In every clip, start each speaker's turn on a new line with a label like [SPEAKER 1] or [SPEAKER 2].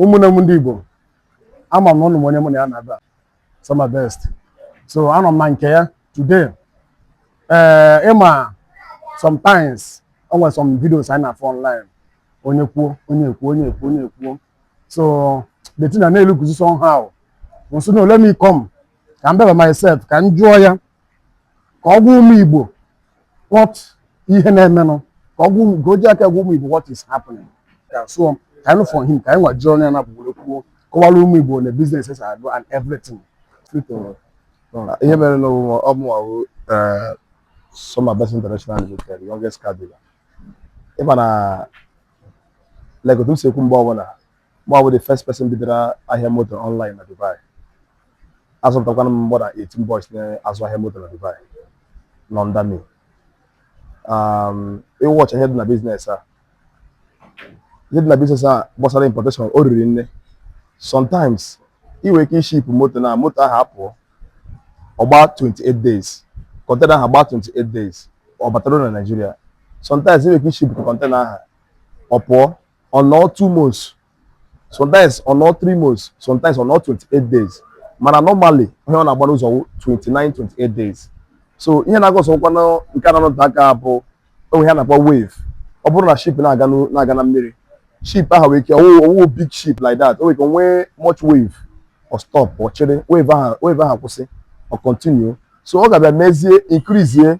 [SPEAKER 1] ụmụnne m ndị Igbo ama m na ụnụ ma onye mụ na ya nọ ebe a Soma Best so anọ m na nke ya today ee eh, ịma sometimes o nwere some videos anyị na-afụ online onye kwuo onye kwuo onye kwuo onye kwuo so the thing na-elukuzi somehow so no let me come ka m bịa by myself ka m jụọ ya ka ọ gwa ụmụ Igbo what ihe na-emenụ ka ọ gwa ụmụ ka o ji aka gwa ụmụ Igbo what is happening so ka anyị for him ka anyị nwa jụọ onye na-abụgboro kwuo kọwara ụmụ Igbo na businesses I do and
[SPEAKER 2] everything ihe mere na ọ mụ ọ bụ ọwụ Soma Best International Limited youngest car dealer ịma na like otu m si ekwu mgbe ọbụla Mụnwa bụ the first person bidoro ahịa moto online na Dubai. Azụpụtakwana m more than 18 boys na-azụ ahịa moto na Dubai nọ under me. Um, ị watch ihe dị na biznes a ihe dị na biznes a gbasara importation o riri nne sometimes ị nwere ike iship moto na moto ahụ apụọ ọ gbaa 28 days kọntena ahụ agbaa 28 days ọ batara na Naịjirịa sometimes ị nwere ike iship kọntena ahụ ọ pụọ ọ nọọ two months sometimes ọ nọọ three months sometimes ọ nọọ 28 days mana normally ihe ọ na-agba n'ụzọ wụ 29 28 days so ihe na-akọzụkwa na nke na-anọte aka bụ o nwe ihe a na-akpọ wave ọ bụrụ na ship na-aga n'u- na-aga na mmiri ship ahụ nwere ike ọwụ ọwụ big ship like that o nwere ike nwee much wave ọ stop o chere wave ahụ wave ahụ kwụsị ọ continue so ọ ga-abịa mezie increase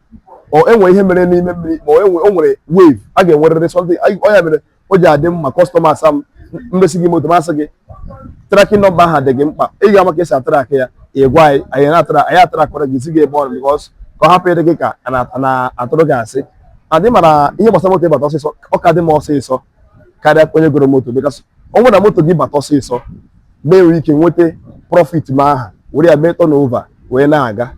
[SPEAKER 2] o nwere ihe mere n'ime mmiri ma o nwere wave a ga-enwerịrị something ọ ya mere o ji adị mma kọstọmas a m mesi gị moto m asị gị trakin nọmba ahụ dị gị mkpa ị ga-ama ka esi atrak ya ị gwa anyị anyị na-atrak anyị atrakwara gị zi gị ebe o ru bikọs ka ọ hapụ ịdị gị ka na-atụrụ gị asị and ị mara ihe gbasara moto ịbata ọsịsọ ọ ka dị m ọsịsọ karịa onye goro moto bikọs ọ wụ na moto gị bata ọsịsọ m nwee ike nweta prọfit m ahụ were ya mee tọn ova wee na-aga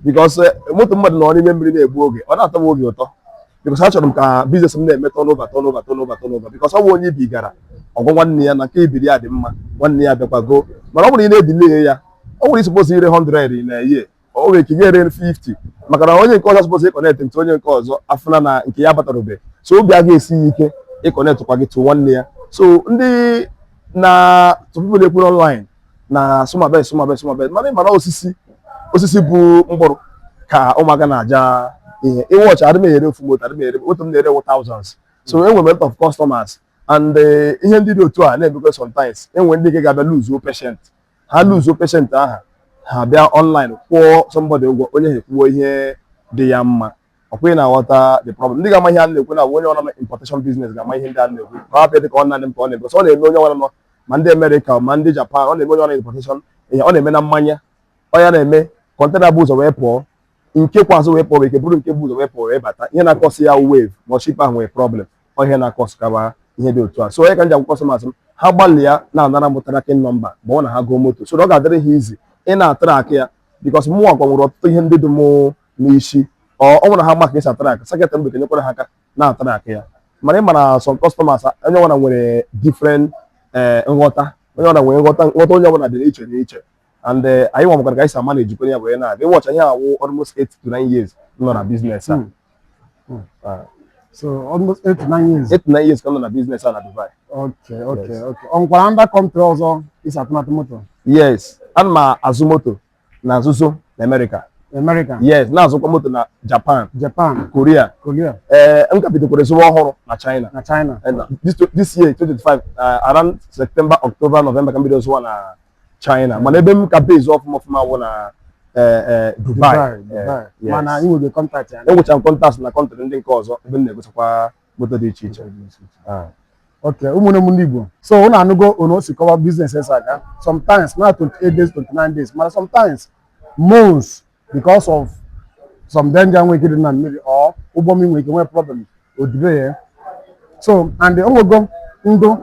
[SPEAKER 2] bikọs eh, moto mmadụ nọ n'ime mmiri na-egbu oge ọ na-atọ m obi ụtọ bikọs achọrọ m ka biznes m na-eme tọn ova tọn ova tọn ova tọn ova bikọs ọ bụ onye i bugara ọ gwa nwanne ya na nke ibiri ya dị mma nwanne ya bịakwa goo mana ọ bụrụ ị na-edile ya ọ nwere ị suppose ire 100 na year o nwere ike ga-ere 50 maka na onye nke ọzọ suppose ịkọnekt to onye nke ọzọ afụna na nke ya batarube so obi a ga-esi ya ike ịkọnektkwa gị to nwanne ya so ndị na people na-ekwu n'ọnlaịn na Soma Best Soma Best Soma Best mana ịmara osisi osisi bu mkpụrụ ka ụmụaka na-aja ihe ị watch adị m ere ofu moto adị m ere otu m na-ere wụ thousands so enwere m lot of customers and eh, ihe ndị dị otu a na-emekwa sometimes enwere ndị nke ga-abịa luzuo patient ha luzuo peshent aha ha bịa ọnlaịn kwụọ sọmbọdị ụgwọ onye aha ekwuo ihe dị ya mma ọ kwa ị na-aghọta the problem ndị ga-ama ihe a na-ekwu na onye ọwụla nọ na importation business ga-ama ihe ndị a na-ekwu ka ọ bịa dị ka ọ nanị m ka ọ na-eme ọ na-eme onye ọwụla ma ndị Amerịka ma ndị Japan ọ na-eme onye ọwụla nọ na importation ihe ọ na-eme na mmanya ọ ya na-eme kọntena bu ụzọ wee pụọ nke kpe azụ wee pụọ ike bụrụ nke bu ụzọ wee pụọ wee bata ihe na-akọsị ya wave ma ọ ship ahụ nwere problem ọ ihe na-akọsị kaba ihe dị otu a so ọ ya ka m ji agwa kọstọmas m ha gbalịa na-anara m trakin nọmba ma ọ na ha goo moto so ọ ga-adịrị ha izi ịna-atrak ya bikọs mụnwa kwa nwere ọtụtụ ihe ndị dị m n'isi ọ wụrụ ha ma ka esi atrak seketị mgbe kenyekwara ha aka na-atrak ya mana ị mara sọm kọstọmas onye ọbụla nwere different eh, nghọta onye ọbụla nwere nghọta nghọta onye ọbụla dị iche n'iche and eh, anyịnwa makwara ka anyị si amanejikwa ya wee na-aga ị wọchịa ihe a wụ almost 8 to 9 years m nọ na biznes a Hmm. Hmm. Ah, so
[SPEAKER 1] almost eight to nine years 8 to 9 years ka m nọ na biznes
[SPEAKER 2] a na Dubai okay okay Yes.
[SPEAKER 1] okay o nwekwara ndị kọntrị ọzọ ị si atụbata moto yes ana
[SPEAKER 2] m azụ moto na-azụzị na Amerịka America yes na-azụkwa moto na Japan Japan Korea Korea ee m ka bidokwara zụwa ọhụrụ na China na China And this, this year 2025 uh, around September October November ka m bido zụwa na China mana ebe m ka base ọfụma ọfụma wụ na eh, eh, Dubai Dubai, Eh, Dubai. yes. mana
[SPEAKER 1] ị nwere kọntaktị ya enwechara m kọntaktị na kọntrị
[SPEAKER 2] ndị nke ọzọ ebe m na-egotakwa moto dị iche iche
[SPEAKER 1] Ah. okay ụmụnne m ndị Igbo so ụnụ anụgo otu o si kọwa biznes si aga sometimes na 28 days 29 days mana sometimes months because of some danger nwere ike dị na mmiri or ụgbọ mmiri nwere ike nwee problem o delay ya so and o nwego ndị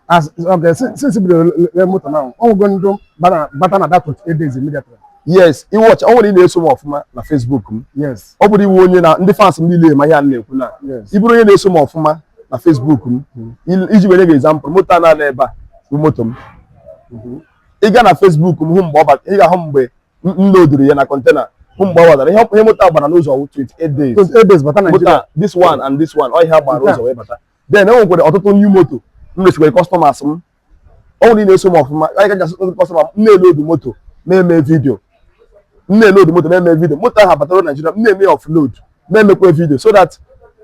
[SPEAKER 1] as okay si- since bido lee moto na o nwego ndị bana- bata na that 28 days immediately yes
[SPEAKER 2] ị wọch ọ wụrụ ị na-eso m ọfụma na Facebook m yes ọ bụrụ ị wụ
[SPEAKER 1] onye na
[SPEAKER 2] ndị fans m niile ma ihe a na-ekwu na Yes. ị bụrụ onye na-eso
[SPEAKER 1] m
[SPEAKER 2] ọfụma na Facebook m il- iji nye gị example moto a nọ n'ebe a bụ moto m ị gaa na Facebook m hụ mgbe ọ bata ị ga-ahụ mgbe m loduru ya na kọntena hụ mgbe ọ batara ihe ihe moto a gbara n'ụzọ wụ 28 days 28 days bata moto Naịjirịa
[SPEAKER 1] a this one and this
[SPEAKER 2] one ọ ihe a gbara Nke a. n'ụzọ wee bata then e nwekwara ọtụtụ new moto m resikwara kọstọmas m ọ wụrụ ị na-eso m ọfụma ị gaa jụsia ndị kọstọma m na-elodu moto na-eme vidio m na-elodu moto na-eme vidio moto ahụ abata na Naịjirịa m na-eme ya ọfload na-emekwa vidio so that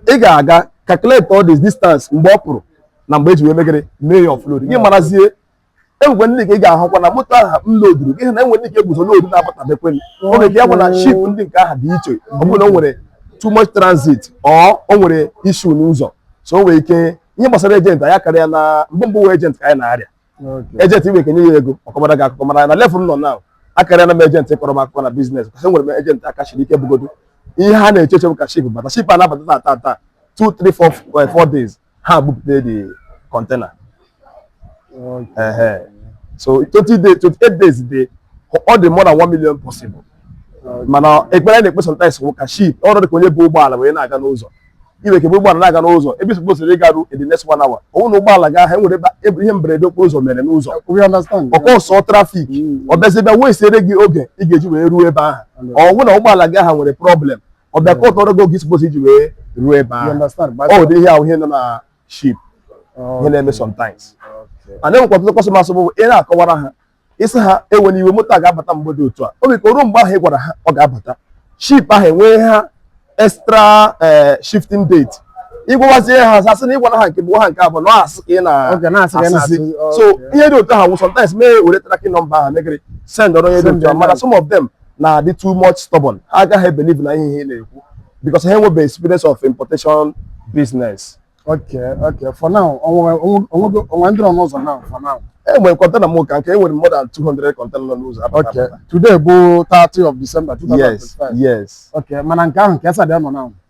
[SPEAKER 2] ị ga-aga calculate all this distance mgbe ọ pụrụ na mgbe e ji wee mee gịnị mee ya ọfload gị marazie e nwekwa ndị nke ị ga-ahụkwa na moto aha m loduru gị na e nwe ndị nke e bu ụzọ lodu na-abatabekwe o nwere ike ya bụ na ship ndị nke aha dị iche ọ bụrụ na o nwere too much transit or o nwere issue n'ụzọ so o nwere ike ihe gbasara ejenti anyị karịa na mgbe mbụ wụ ejenti ka anyị na-arịa ejenti i nwee ike nye ya ego ọ kọbara gị akụkọ mana na levụl m nọ na akarịala m ejenti kọrọ m akụkọ na biznes kọs enwere m ejenti aka siri ike bugodo ihe ha na-eche eche bụ ka ship bata ship a na-abata na taa taa 2 3 4 4 days ha bupụta the kọntena so 20 days 28 days dị ọ dị more than 1 million possible mana ekpere na-ekpe sometimes wụ ka ship ọrụ dị ka onye bu ụgbọala wee na-aga n'ụzọ i nwere ike bu ụgbọala na-aga n'ụzọ ebe ị supposiri ịgaru in the next one hour ọ wụ na ụgbọala gị aha nwere ebe ihe mberede okporo ụzọ mere n'ụzọ ọ cause trafik ọ bịazi bịa wee siere gị oge ị ga-eji wee ruo ebe ahụ ọ wụ na ụgbọala gị aha nwere problem ọ bịa ka ọtọrọ gị oge ị supposed iji wee ruo ebe ahụ ọ ụdị ihe ahụ ihe nọ na ship ihe na-eme sometimes a na-enwekwa ọtụtụ kọstọmas bụ ị na-akọwara ha ị sị ha ewena iwe moto a ga-abata mgbe dị otu a o nwere ike ruo mgbe ahụ ị gwara ha ọ ga-abata ship ahụ enwee ha extra eh, shifting date ị gwawazie ha asị na ị gwara ha nke mbụ ha nke abụọ na asị ka ị na-asịzi so ihe dị otu ahụ sometimes m ewere tracking nọmba ha mee gịnị sendụrụ onye dị otu a mana some of them na-adị too much stubborn ha agaghị believe na ihe ị na-ekwu because ha enwebeghị experience of importation business okay okay
[SPEAKER 1] for now o nwe ndị nọ n'ụzọ now for now e nwere kọntena m
[SPEAKER 2] ka nke e nwere more than 200 kọntena nọ n'ụzọ okay today bụ
[SPEAKER 1] 30 of December 2025 yes yes okay
[SPEAKER 2] mana nke ahụ ka
[SPEAKER 1] esa dị nọ now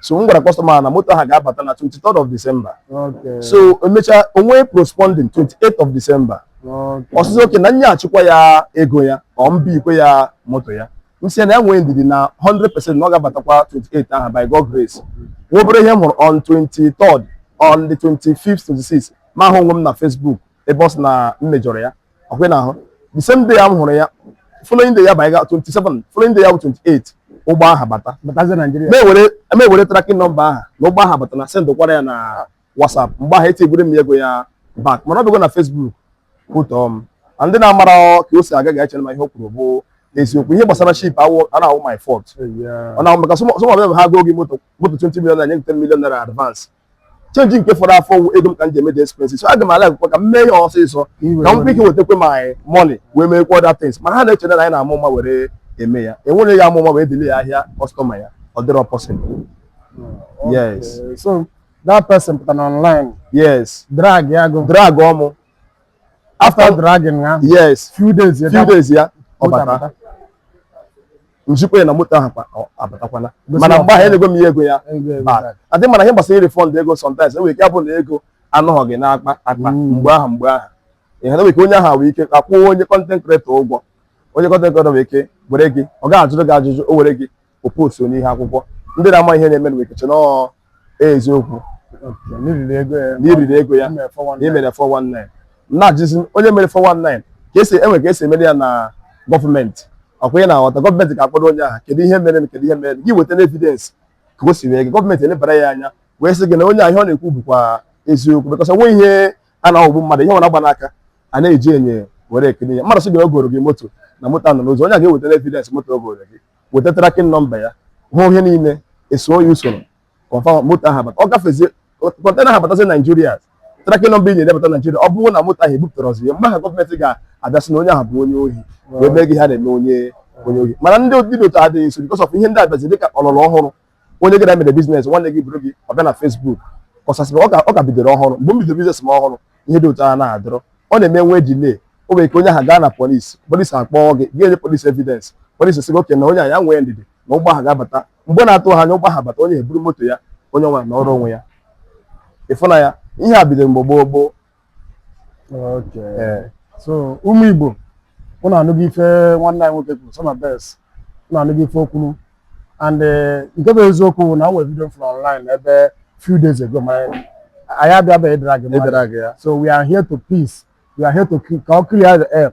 [SPEAKER 2] so m gwara kọstọma na moto ha ga-abata na 23rd of December
[SPEAKER 1] so
[SPEAKER 2] emechaa o nwee postponing 28th of December ọ sị sị oke
[SPEAKER 1] na m nyechikwa
[SPEAKER 2] ya ego ya ka ọ mba ikwe ya moto ya m sị ya na ya nwee ndidi na 100% na ọ ga-abatakwa 28 aha by God grace nwa obere ihe m hụrụ on 23rd on the 25th 26 m ahụ onwe m na Facebook ebe ọ sị na m mejọrọ ya ọkwe na ahụ the same day a m hụrụ ya following day ya bụ anyị ga 27 following day ya bụ 28 ụgbọ aha bata batazie Naịjirịa m
[SPEAKER 1] ewere m
[SPEAKER 2] ewere tracking nọmba aha na ụgbọ aha abatana sendkwara ya na WhatsApp mgbe ahụ etigoro m ya ego ya back mana ọ bịago na Facebook kwutọọ m na ndị na-amara ka o si aga ga-echere ma ihe o kwuru bụ eziokwu ihe gbasara ship awụ a na-awụ my fault ọ na-awụ maka some of them bụ ha gọọ gị moto moto 20 million naira nye gị 10 million naira advance change nke fọrọ afọ wụ ego m ka m ji eme the expenses so aga m alikekwa ka m mee ya ọsịsọ ka m nwee ike wetakwa my money wee mee kwa other things mana ha na-eche na anyị na-ama ụma were eme ya enwerọ onye ga-ama ụma wee delay ahịa kọstọma ya ọ dịrọ possible yes Okay,
[SPEAKER 1] so that person pụtara online yes
[SPEAKER 2] drag ya go
[SPEAKER 1] dragọọ mụ after dragging aha yes few days ya few
[SPEAKER 2] days
[SPEAKER 1] ya ọ
[SPEAKER 2] bata m zikwa ya na moto ahụ kwa- ọ- abatakwana Gosi mana ya mgbe ahụ ọfụma. enyego m ya ego ya Ego ego Ba- back. adị mana ihe gbasara refund ego sometimes e nwere ike abụ na ego anọghị gị n'akpa akpa Mm. mgbe ahụ mgbe ahụ ihe na nwere ike onye ahụ nwere ike akwụọ onye content creator ụgwọ onye content creator nwere ike were gị ọ gaghị ajụrụ gị ajụjụ o were gị o post n'ihu akwụkwọ ndị na-ama ihe na-eme nwere ike che na ọ eziokwu na i riri ego ya na i riri ego ya mere 419. na emere 419 na-ajụzi onye mere 419 ka e si e nwe ka e si emere ya na gọọmenti ọkwa ị na-aghọta gọọmenti ga-akpọrọ onye ahụ kedu ihe mere kedu ihe mere gị weta evidence ka o si wee gị gọọmenti elebara ya anya wee sị gị na onye ahụ ihe ọ na-ekwu bụkwa eziokwu because o nwe ihe a na-aghọgbu mmadụ ihe ọ na-agba n'aka a na-eji anya were ekiri ya mmadụ sị gị na o goro gị moto na moto a nọ n'ụzọ onye a ga-eweta evidence moto o goro gị weta tracking number ya hụ ihe niile eso ya usoro confirm moto ahụ abata ọ gafezie container ahụ batazi Nigeria tracking number ị nyere bata Nigeria ọ bụrụ na moto ahụ ebupụtarọzị ya mgbe ahụ gọọmenti ga-abịa sị na onye ahụ bụ onye ohi wee mee gị ihe a na-eme onye onye ohi mana ndị dị otu a adịghị nso because of ihe ndị a bịazi dịka ọlọrọ ọhụrụ onye gị na ya mere business nwanne gị buru gị ọ bịa na Facebook kọsasịrị ọ ka bidoro ọhụrụ mgbe m bidoro business m ọhụrụ ihe dị otu a na-adịrọ ọ na-eme e nwee delay o nwere ike onye ahụ gaa na police police akpọọ gị gị enye police evidence police sị gị okay na onye a ya nwee ndidi na ụgbọ ahụ ga-abata mgbe na-eteghị anya ụgbọ ahụ bata onye eburu moto ya onye nwa na ọrụ onwe ya ị fụ na ya ihe a bidoro mgbe gboo gboo
[SPEAKER 1] so ụmụ Igbo ụnụ anụgo ife nwanne anyị nwoke kwuru Soma Best ụnụ anụgo ife o kwuru and eh, nke bụ eziokwu na o nwere video m fụrụ online ebe few days ago ma anyị abịabeghị ịdrag so we are here to peace we are here to ka ọ clear the air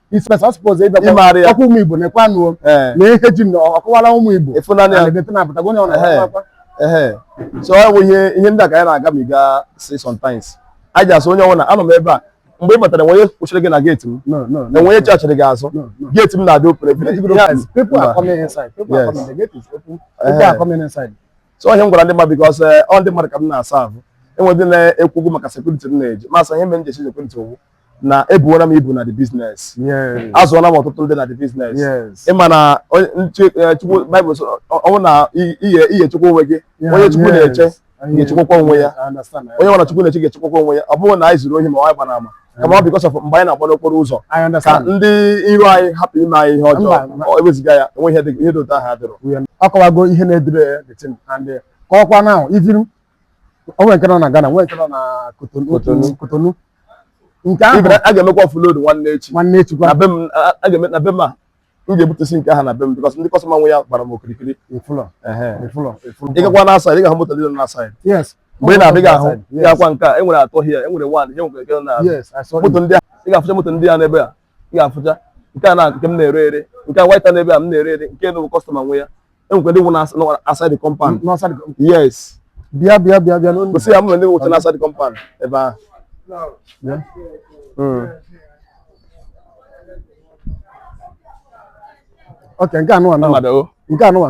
[SPEAKER 1] isipesa ọ suppose ịbịa Ịmara ya. ọkwa ụmụ igbo na-ekwe anụ Ee. na ihe ji na ọkọwara ụmụ igbo Ịfụnanya. na na-edete na
[SPEAKER 2] apụtago onye ọ Ehe.
[SPEAKER 1] na-akwa ehe
[SPEAKER 2] so ọ bụ ihe ihe ndị a ka anyị na-agabiga see sometimes anyị ji asụ onye ọbụla anọ m ebe a mgbe ị batara e nwe onye kwụchiri gị na gate m no no no e nwe onye chachiri gị azụ No, no. gate m na-adị open People are guys, people are coming inside. People are Yes. coming. The gate is open. People Eh. are coming inside. so ihe m gwara ndị mmadụ because ọ ndị mmadụ ka m na-asa ahụ e nwe ndị na-ekwu okwu maka security m na-eji m asị ihe mere m ji eji security wụ na ebuola m ibu na the business azụọla m ọtụtụ ndị na the business ị ma na eh, chukwu baịbụl ọ wụ na ihe chukwu onwe gị onye chukwu na-eche ga-echekwakwa onwe ya onye nwara chukwu na-eche ga-echekwakwa onwe ya ọ bụghị na anyị zuru ohi ma ọ gbara ama kama ọ because of mgbe anyị na-agba n'okporo ụzọ ka ndị iro anyị hapụ ime anyị ihe ọjọọ ewezuga ya e nwe ihe dị otu ahụ adịrọ ọ kọwago ihe na-edere
[SPEAKER 1] ya eh, ka ọkwa na even o nwere nke nọ na Ghana nwee nke nọ na Kotonu Kotonu. otu Kotonu nke ahụ Even a ga-emekwa offload
[SPEAKER 2] nwanne echi nwanne echi gwa na be m
[SPEAKER 1] a- a ga-eme
[SPEAKER 2] na be m a m ga-ebutusi nke ahụ na be m because ndị customer nwe ya gbara m okirikiri ị fụlụ Ehe. ị fụlụ ị fụlụ ị gakwa na outside ị ga-ahụ moto niile nọ na outside yes mgbe ị na-abịa ị ga-ahụ ị Yes. ga-akwa nke a e nwere atọ here e nwere one ihe nwere nke na yes I saw moto it ndị a ị ga-afụcha moto ndị a n'ebe a ị ga-afụcha nke a na nke m na-ere ere nke a white n'ebe a m na-ere ere nke na customer nwe ya e nwekwa ndị nọ na outside compound yes bịa bịa bịa
[SPEAKER 1] bịa gosi ya m
[SPEAKER 2] ndị nọcha na outside compound ebe ahụ
[SPEAKER 1] hmm. ok nke anụwa nke anụwa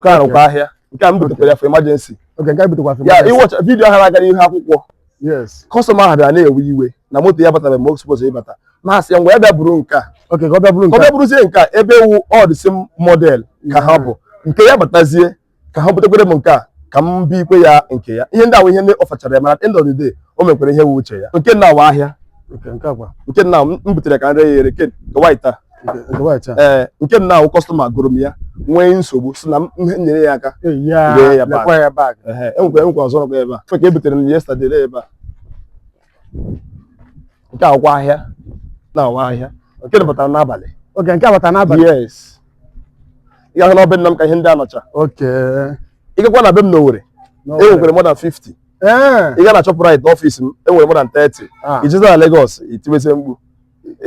[SPEAKER 2] nke a wụkwa ahịa nke a m butekwara ya for emergency okay nke a butekwa for ya emergency ị wọcha vidiyo ahụ na-aga n'ihu akwụkwọ yes kọstọma ahụ bịara na-ewe iwe na moto ya batara mgbe ọ suppose ịbata na-asị ya ngwa ya bịa buru nke a okay ka ọ bịa buru ka ọ nke bịa
[SPEAKER 1] buruzie nke a ebe
[SPEAKER 2] ewu all the same model ka ha bụ nke ya batazie ka ha butekwere m nke a ka m bi ikwe ya nke ya ihe ndị ahụ ihe ndị ọfachara ya mana at the end of the day o mekwere ihe wu uche ya nke nna wụ ahịa okay nke a kwa nke nna m m butere ka m ree ya ere nke nke white a ee nke m na-awụ kọstọma goro m ya nwee nsogbu sị na m nyere ya aka ree ya back enwekwa enwekwa ọzọ nọkwa ebe a ka e butere m yesterday lee ebe a nke a wụkwa ahịa na-awụ ahịa nke batara n'abalị okay nke batara
[SPEAKER 1] n'abalị
[SPEAKER 2] yes ị ga-ahụ na be nna m ka ihe ndị a nọcha ị gakwa na be m n'Owerri enwekwere more than 50 ị ga na Shoprite n'ọfịs m enwere more than 30 ah. i jezi na Lagos i tiwezi mkpu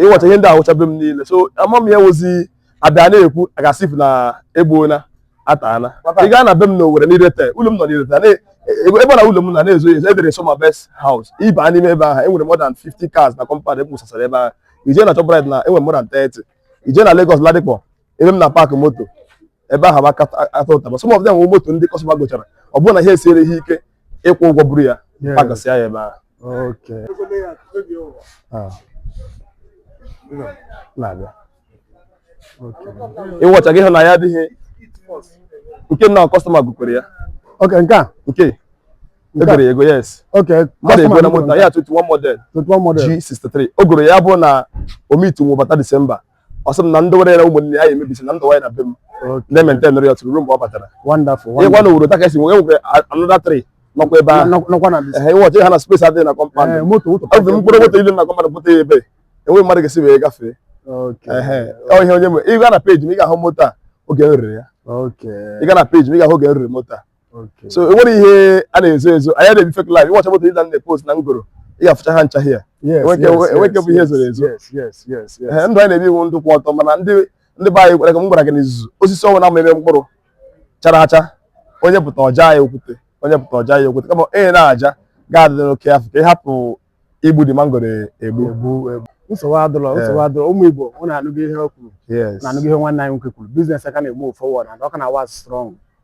[SPEAKER 2] ị wọcha ihe ndị a wụcha be m niile so ama m ya wozi abịa na-ekwu as if na egbuona ataana ị gaa na be m na Owerri n'Irete ụlọ m nọ n'Irete ebe na ụlọ m na na-ezo ezo edere Soma Best House ị ba n'ime ebe ahụ enwere more than 50 cars na compound ebusasara ebe ahụ i je na Shoprite na enwere more than 30 i je na Lagos Ladipo ebe m na-apaakị moto ebe ahụ aka ata ụtaba some of them wụ moto ndị kọstọma gochara ọ bụrụ na ihe esiere ha ike ịkwụ ụgwọ buru ya Yes. pagasịa ya ebe ahụ Okay. Ah. Na-abịa. Okay. ị wọcha gị hụ na ya adịghị nke nna kọstọma gokwere ya Okay, nke a. nke Nke a. egoro ya ego yes Okay. mmadụ egona customer moto ya 21 model 21 model. G63 o goro ya bụ na omit webata Disemba ọ sị m na m dowere ya na ụmụnne ya emebisi na m dowe ya na be m na-ementenụrụ ya tụrụ ruo mgbe ọ batara ị gaa na Owerri otu a ka e si nwe enwere another 3 nọkwa ebe ahụ ị wọcha ị hụ na spesi adịghị na kọmpand ọ bụ mkpụrụ moto ole na kọmpand bụta ya ebe enweghị mmadụ ga-esi wee gafee ihe onye ị gaa na peji m ị ga-ahụ moto a oge m rere ya ị gaa na peji m ị ga-ahụ oge m rere moto a
[SPEAKER 1] so enwere
[SPEAKER 2] ihe a na-ezo ezo anyị na-ebi fake life ị wọcha moto ndị a na-epost na m goro ị ga-afụcha ha ncha here enweke bụ ihe zoro ezo ndụ anyị na-ebi wụ ndụ kwụ ọtọ mana ndị ndị be anyị kwere ka m gwara gị n'izuzu osisi ọ wụna mịrị mkpụrụ chara acha onye pụta ọ jaa ya okwute onye pụta ọ jaa ya okwute kama onye na-aja ga-adị careful ka ị hapụ igbu the mangoro egbu nsogbu adịrọ
[SPEAKER 1] nsogbu adịrọ ụmụ Igbo unu anụgo ihe o kwuru unu anụgo ihe nwanne anyị nwoke kwuru biznes a ka na-ego forward and ọ ka na-awa strọng